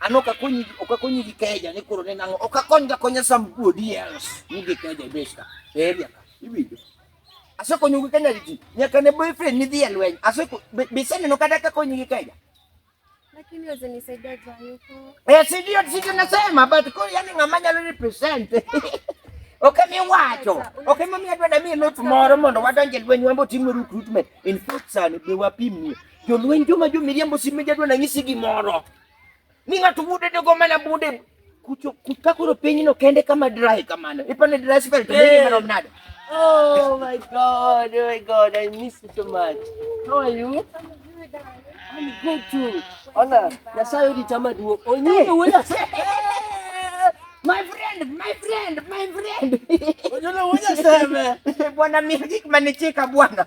An ok akonyi ok akonyi gi keja ni koro ne nang'o. Ok akony ga konya some good years ni gi keja e base ka. E area ka. Iwinjo. Asekonyo gi kanya riti. Nyaka ne boyfriend ni dhi e lweny. Aseko biseneno kata ka konyi gi keja. Lakini waweza nisaidia jua yuko. Eh, si ndio si ndio nasema but kwa yani ng'ama nyalo represent. Okay, mi wacho. Okay, mami adwa na mi lot moro mondo wadonje lweny wambo timo recruitment. In fact, sani be wapimie. Jolweny joma jomiriambo sime jadwa nanyisi gimoro ni ng'ato wude ne go mana bunde kucho kuka koro pinyno kende kama dry kamano ipane dry spell to nigi mana mnada Oh my God, oh my God, I miss you so much. How are you? I'm good too. Ona, nasayo di chama duo. Onye. My friend, my friend, my friend. Onye, onye sema. Bwana mihiki manichika bwana.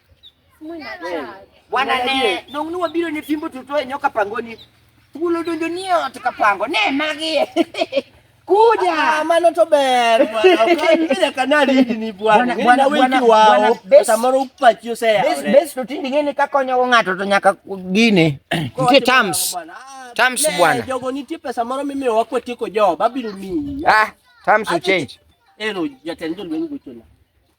Bwana ne nong' nuwa biro ne fimbo tuto e nyoka pangoni. Thuolo donjo ni e ot ka pango. Ne magi. Kuja. Ah, mano to ber bwana. Ukanyira kanali hili ni bwana. Bwana wengi wao. Samoro upachi osea. Bes bes to tindi ngene ka konyo go ng'ato to nyaka gine. Nitie terms. Ah, terms bwana. Jogo nitie pesa moro mimi wako tiko jo. Babiru ni. Ah, terms will change. Ero jatendo lwengu chona.